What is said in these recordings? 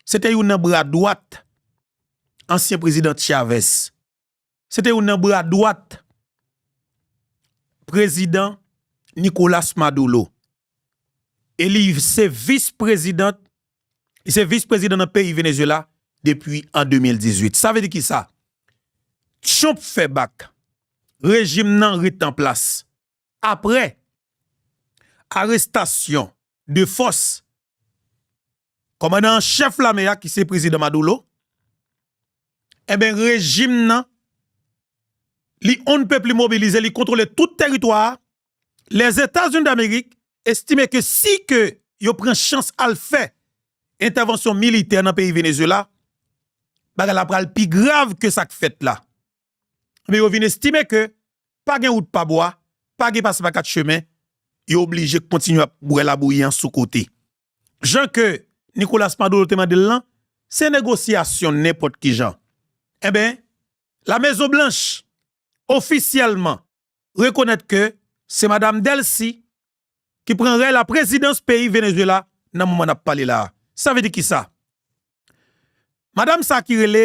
Se te youn nan bra dwat ansyen prezidan Chavez. Se te youn nan bra dwat prezidan Nicolas Maduro. E li se vis prezidan, li se vis prezidan nan peyi Venezuela depi an 2018. Sa vle di ki sa? Trump fè bak, rejim nan ret an plas. Aprè arestasyon de fòs kòmandan an chèf lame a ki se Prezidan Maduro, enben rejim nan li on ne peut plus mobilize, li kontwole tout teritwa a, Lèzetazini Damerik estime ke si ke yo pran chans al fè entèvansyon militè nan peyi Venezuela, bagay la pral pi grav ke sa k fèt la. Ebyen yo vin estime ke pa gen wout pa bwa, pa gen pase pa kat chemen, yo oblije kontinye ap bwè labouyi an sou kote. Jan ke Nicolas Maduro te mande l lan, se negosyasyon nenpòt ki jan. Enben, La Mezon Blanch ofisyèlman rekonèt ke se Madam Delcy ki pran rèy la prezidans peyi Venezuela nan moman n ap pale la a. Sa vle di kisa? Madam sa ki rele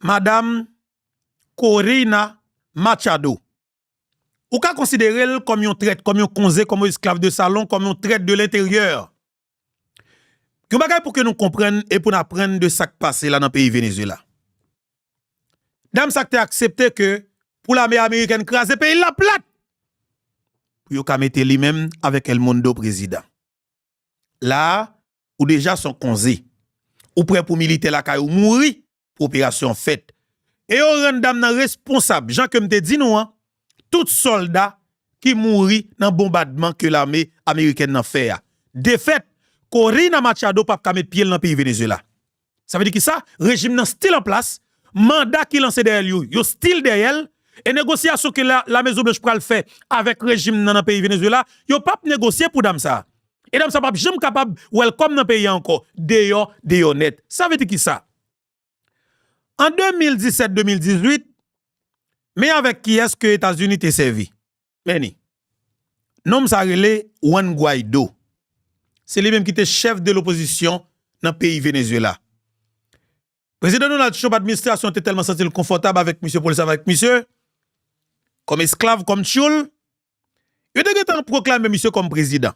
Madam Corina Machado, ou ka konsidere l kòm yon trèt, kòm yon konze, kòm yon esklav de salon, kòm yon trèt de lenteryè. Yon bagay pou ke nou konprann e pou n aprann de sa k pase la nan peyi Venezuela. Dam sa k te aksepte ke pou lame amerikèn kraze peyi l la plat pou yo ka mete li menm avèk El Mundo prezidan. la a, ou deja son konze. Ou prè pou militè lakay ou mouri pou operasyon an fèt. E yo rann dam nan responsab, jan ke m te di nou an, tout sòlda ki mouri nan bonbadman ke lame amerikèn nan fè a. Defèt, Corina Machado pap ka met pye l nan peyi Venezuela. Sa vle di kisa? Rejim nan stil an plas, manda ki lanse dèyè l yo, yo stil dèyè l, e negosyasyon ke Lamezonblanch pral fè avèk rejim nan nan peyi Venezuela, yo p ap negosye pou dam sa a. E dam sa a p ap janm kapab welcome nan peyi a ankò. Deyò, deyò nèt. Sa vle di kisa? An 2017, 2018, men avèk kiyès ke Etazini te sèvi? Beni. Nonm sa rele Juan Guaido. Se li menm ki te chèf de lopozisyon nan peyi Venezuela. Prezidan Donald Trump administrasyon an te tèlman santi l konfòtab avèk misye pou l sèvi avèk misye kòm esklav, kòm tyoul, yo te gentan pwoklame misye kòm prezidan.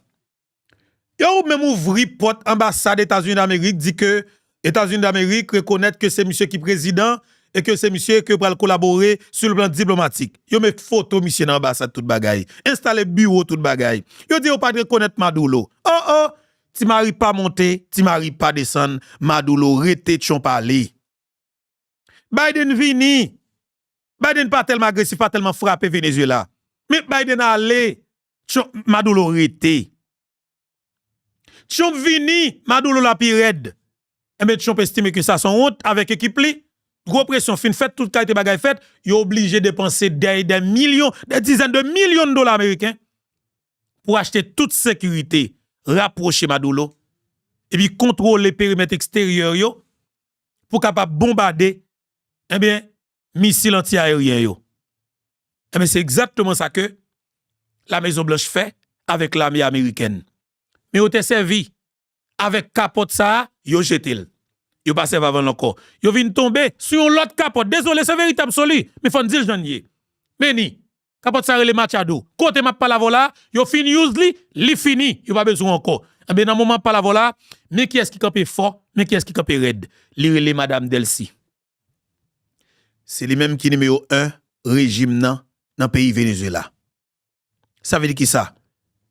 E ou menm ouvri pòt anbasad Etazini Damerik di ke Etazini Damerik rekonèt ke se misye ki prezidan e ke se misye ke yo pral kolabore sou le plan diplomatik. Yo met foto misye nan anbasad tout bagay. Enstale biwo tout bagay. Yo di yo pat rekonèt Madulo. Oh oh! Ti mari pa monte, ti mari pa desann, Madulo rete tchon pale. Biden vini, Biden pa tèlman agresif, pa tèlman frape Venezuela. Men Biden ale, Trump, Maduro rete. Trump vini, Maduro la pi rèd. Enben Trump estime ke sa son wont avèk ekip li. Gwo presyon fin fèt, tout kalite bagay fèt, yo oblije depanse dè e dè milyon, dè dizèn de milyon dola ameriken pou achte tout sekirite, rapwoche Maduro, epi kontwole perimèt eksteryè yo pou kapab bonbade ebyen misil anti aeryen yo ebyen se egzatteman sa ke la mezon blanch fè avèk lame amerikèn men yo te sèvi avèk kapòt sa yo jetel yo pa sèvi avèl ankò yo vin tonbe sou yon lòt kapòt dezole se verite absoli men fòn dil jann ye meni Kapòt sa rele Machado. Kote map pale avèw la, yo fin use li, li fini, yo pa bezwen ankò. Ebyen nan moman map pale avèw la, men kiyès ki kanpe fò, men kiyès ki kanpe rèd. Li rele Madam Delcy. Se li menm ki nimewo 1 rejim nan, nan peyi Venezuela. Sa vle di kisa?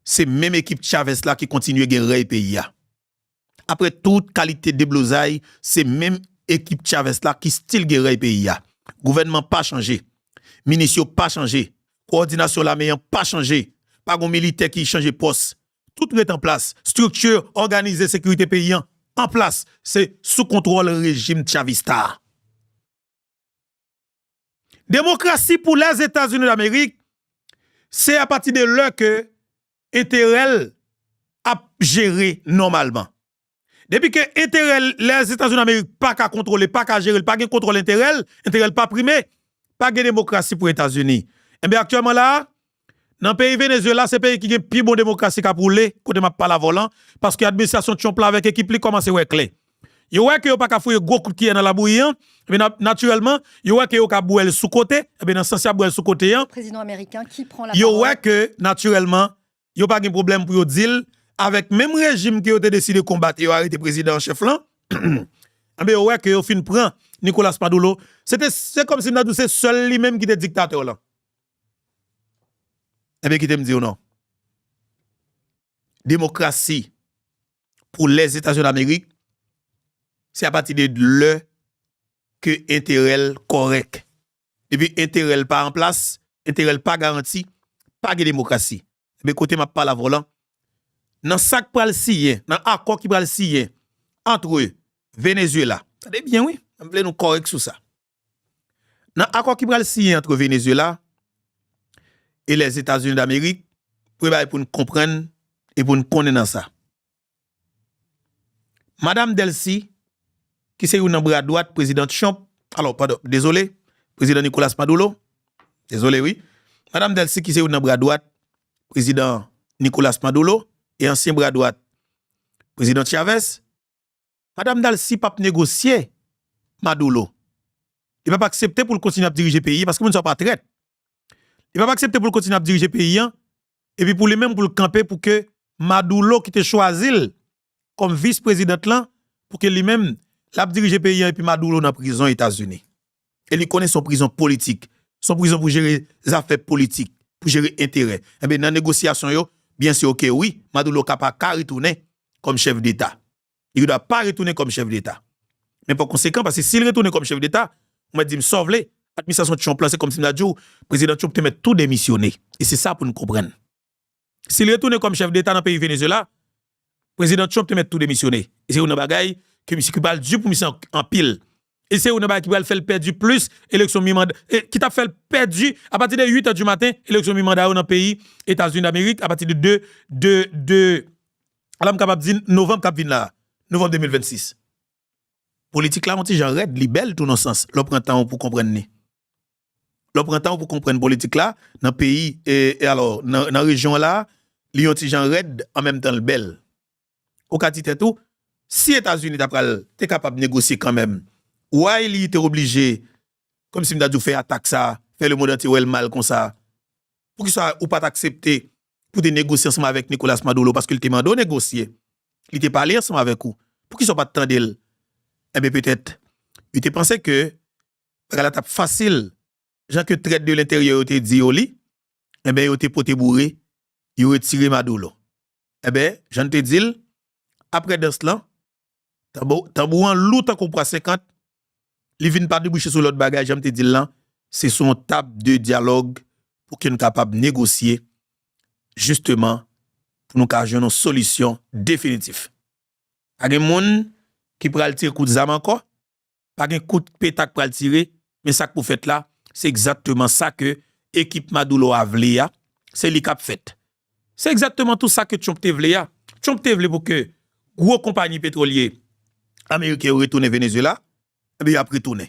Se menm ekip Chavez la ki kontinye gen rèy peyi a. Aprè tout kalite deblozay se menm ekip Chavez la ki stil gen rèy peyi a. Gouvènman pa chanje, minis yo pa chanje, kowòdinasyon lame an pa chanje, pa gon militè ki chanje pòs, tout ret an plas, strikti òganize sekirite peyi an an plas, se sou kontwòl rejim Chavista a. Demokrasi pou Lèzetazini Damerik se apati de lè ke enterè l ap jere nòmalman. Depi ke enterè Lèzetazini Damerik pa ka kontwole, pa ka jere, pa gen kontwòl enterè l, enterè l pa prime, pa gen demokrasi pou Etazini. Enben aktyèlman la a, Nan peyi Venezuela se peyi ki gen pi bon demokrasi kap woule kote map pale avèw lan paske administrasyon Trump la avèk ekip li kòmanse wè klè. Yo wè ke yo paka fouye gwo kout kiyè nan labouyi an, ebyen nan natirèlman yo wè ke yo ka bwèl sou kote, ebyen nan sans yap bwèl sou kote an, yo wè ke natirèlman yo pa gen pwoblèm pou yo dil avèk menm rejim ke yo te deside konbat e yo arete prezidan an chèf lan, ebyen yo wè ke yo fin pran Nicolas Maduro, se te se kòmsi m ta diw se sèl li menm ki te diktatè lan. Ebyen kite m di w non. Demokrasi pou Lèzetazini Amerik se apati de lè ke enterè l kòrèk. Depi enterè l pa an plas, enterè l pa garanti, pa gen demokrasi. Ebyen kote m ap pale avè w lan, nan sa k pral siyen, nan akò ki pral siyen antre Venezyela, tande byen wi, m vle nou kòrèk sou sa, Nan akò ki pral siyen antre Venezuela e Lèzetazini Damerik, premye bagay pou n konprann e pou n konnen nan sa, Madam Delcy, ki se youn nan bra dwat Prezidan Trump, alò, padon, dezole, Prezidan Nicolas Maduro, dezole wi, Madam Delcy ki se youn nan bra dwat Prezidan Nicolas Maduro e ansyen bra dwat Prezidan Chavez, Madam Dalcy pap negosye Madoulo. Li pap aksepte pou l kontinye ap dirije peyi paske moun sa yo pa trèt. Li pap aksepte pou l kontinye ap dirije peyi an epi pou li menm pou l kanpe pou ke Madoulo ki te chwazi l kòm vis prezidant lan pou ke li menm lap dirije peyi an epi Madoulo nan prizon Etazini. e li konnen se yon prizon politik, se yon prizon pou jere zafè politik, pou jere enterè. Enben, nan negosyasyon yo, byen sè ke wi, Maduro ka pa ka retounen kòm chèf deta. Li gen dwa pa retounen kòm chèf deta. Men pa konsekan, paske si li retounen kòm chèf deta, ou mèt di m sa w vle, administrasyon Trump la, se kòm si m ta di w, Prezidan Trump te mèt tou demisyone. E se sa pou n konprann. Si li retounen kòm chèf deta nan peyi Venezuela, Prezidan Trump te mèt tou demisyone. E se youn nan bagay ke misye ki pral di pou misye anpil. E se youn nan bagay ki pral fèl pèdi plis eleksyon mi manda, ki tap fèl pèdi a pati de 8 è di maten eleksyon mi manda yo nan peyi Etazini Damerik a pati de 2 de 2 ala m kapab di novanm kap vin la a, novanm 2026. Politik la yon ti jan rèd, li bèl tou nan sans lè w pran tan w pou konprann li. Lè w pran tan w pou konprann politik la nan peyi e alò nan rejyon la, li yon ti jan rèd an menm tan l bèl. Ou ka di tèt ou, si Etazini ta pral te kapab negosye kanmenm, why li te oblije kòmsi m ta di w fè atak sa, fè lemond antye wè l mal konsa? Poukisa ou pa t aksepte pou te negosye ansanm avèk Nicolas Maduro paske li te mande w negosye. Li te pale ansanm avèk ou. Poukisa w pa t tande l? Enben petèt yo te panse ke bagay la t ap fasil. Jan ke trèt de lenteryè yo te di yo li, enben yo te pote boure, yo retire Maduro. Enben, jan n te di l, apre dans lan, Tanbou an lou tankou pwa 50, li vin pa debouche sou lòt bagay, jan m te di l lan, se sou yon tab de dyalòg pou ke n kapab negosye jisteman pou nou ka jwenn yon solisyon definitif. Pa gen moun ki pral tire kout zam ankò, pa gen kout peta k pral tire, men sa k pou fèt la, se egzakteman sa ke ekip Madoulo a vle a, se li k ap fèt. Se egzakteman tou sa ke Trump te vle a. Trump te vle pou ke gwo konpayi petwolye ameriken yo retounen Venezyela, enben y ap retounen.